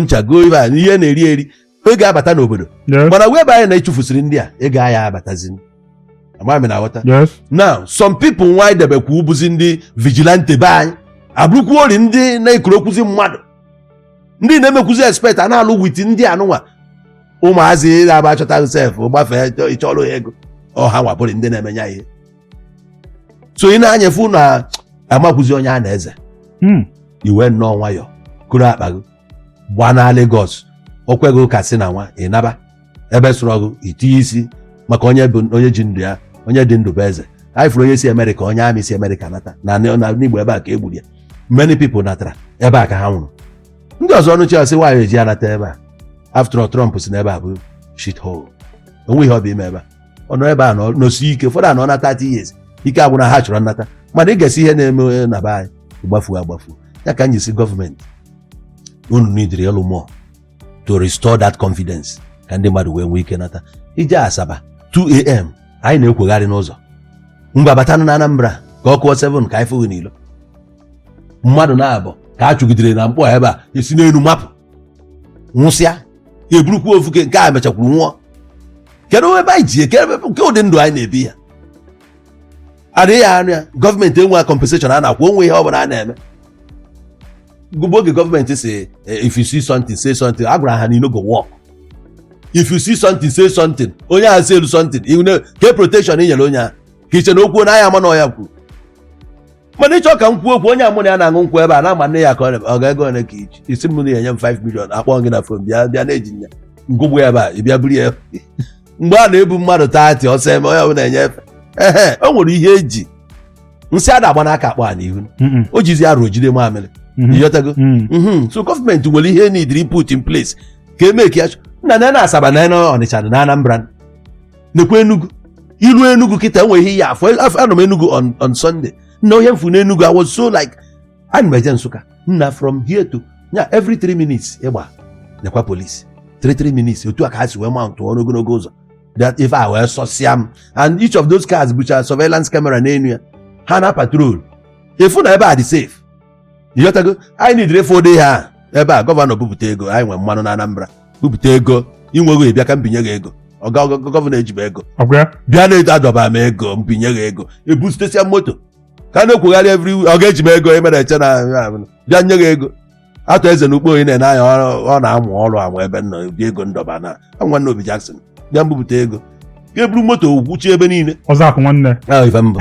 ncha goo ibe a ihe na-eri eri ego abata n'obodo Yes. mana wee bụ anyị na achụfusiri ndị a ego anyị abatazi ama m ị na-aghọta Yes. now some people nwa idebekwa ọ bụzi ndị vigilante be anyị abụrụkwa ori ndị na-ekurukwuzi mmadụ ndị na-emekwuzi expect a na-alụ with ndị anụnwa ụmụazị na-aba achọta sef gbafee ịchọrọ ya ego ọ ha nwa bụrị ndị na-emenye ya ihe so ị nee anya fụ na amakwụzi onye a na-eze hmm. i wee nnọọ nwayọ kuru akpa gị baa na Lagos o kweghị ụka si na nwa ị naba ebe sụrụ ọgụ itinye isi maka onye bụ onye ji ndụ ya onye dị ndụ bụ eze anyị fụrụ onye si Amerịka onye army si Amerịka nata na n'Igbo ebe a ka egburu ya many people natara ebe a ka ha nwụrụ ndị ọzọ anụchaa sị nwaanyị eji anata ebe a after all Trump sị na ebe a bụ shit hole o nwe ihe ọ bịa ime ebe a ọ nọ ebe a nọ- nọsie ike ụfọdụ anọna 30 years ike agwụna ha chọrọ nnata mana ị gesịa ihe na-eme na be anyị gbafuo agbafuo ya ka m ji sị gọọmenti unu nidiri ịlụ more to restore that confidence ka ndị mmadụ wee nwee ike nata i jee Asaba 2am anyị na-akwụgharị n'ụzọ ngwa batanụ na Anambra ka ọ kụọ 7 ka anyị fụ gị n'ilo mmadụ naabọ ka a chụgidere na Nkpor ebe a esi n'elu mapụ nwụsịa ha eburukwa ofu nke a mechakwuru nwụọ kedu ebe anyị ji eje ke ụdị ndụ anyị na-ebi ya adịghị ya anya gọọmenti enwe compensation a na-akwụ onwe ihe ọ bụla a na-eme ọ bụ oge gọọmenti sị eh, if you see something say something a gwara ha na go work if you see something say something onye ahụ seelu something ke protection ị nyere onye ahụ ka i che na o kwuo na a ya-ama na ọ ya kwuru mana ị chọ ka m kwuo okwu onye mụ na ya na-aṅụ nkwụ ebe a na-ama nne ya ka ọ na- ọ kwa ego ole ka i ji ị sị m na ị ya-enye m 5 million akpọ gị na fon bịa bịa na e ji mmanya ṅụgbu ya ebe a ị bịa buru ya mgbe a na-ebu mmadụ taati ọsọ eme onye ọbụla enye efe ehe o nwere ihe eji nsị a na-agba n'aka akpọ a n'ihu Mm-mm. o jizi arụ jide mamịrị Mhm. ịghọtago Mm. Mhm. so gọọmenti nwere ihe nidiri put in place ka eme ka ya chọ- nna na na Asaba na na Ọnịcha na Anambra nekwa Enugu i luo Enugu kịta e nwe ihe ị ya-afụ anọ m Enugu on on Sunday nna ihe m fụ n'Enugu I was so like ana m eje Nsụka nna from here to nya every 3 minutes ị gba nekwa polisi 3 3 minutes otu a ka ha si wee mountọrọ ogologo ụzọ that ife a wee sọsịa m and each of those cars bucha surveillance camera n'elu ya ha na patrol ị fụ na ebe a dị safe ịghọtago anyị nidiri ịfụ ụdị ha ebe a gọvanọ bupụta ego anyị nwere mmanụ na Anambra bupụta ego i nweghị ị bịa ka m binye gị ego ọga gọ- gọ- gọvanọ ejiba ego ọ gwa ya bịa na edo- edoba m ego m binye gị ego ebutesịa moto ka a na-akwụgharị every ọga eji m ego emere eche na bịa nye gị ego Arthur Eze na Ukpo onye na-ene anya ọ- ọ na-amụrụ amụ ebe nọ ụdị ego m dọba na anwa nna Obi Jackson bịa m bupụta ego ka eburu moto gwuchie ebe niile ọzọ akụ nwanne ahụ ife mbụ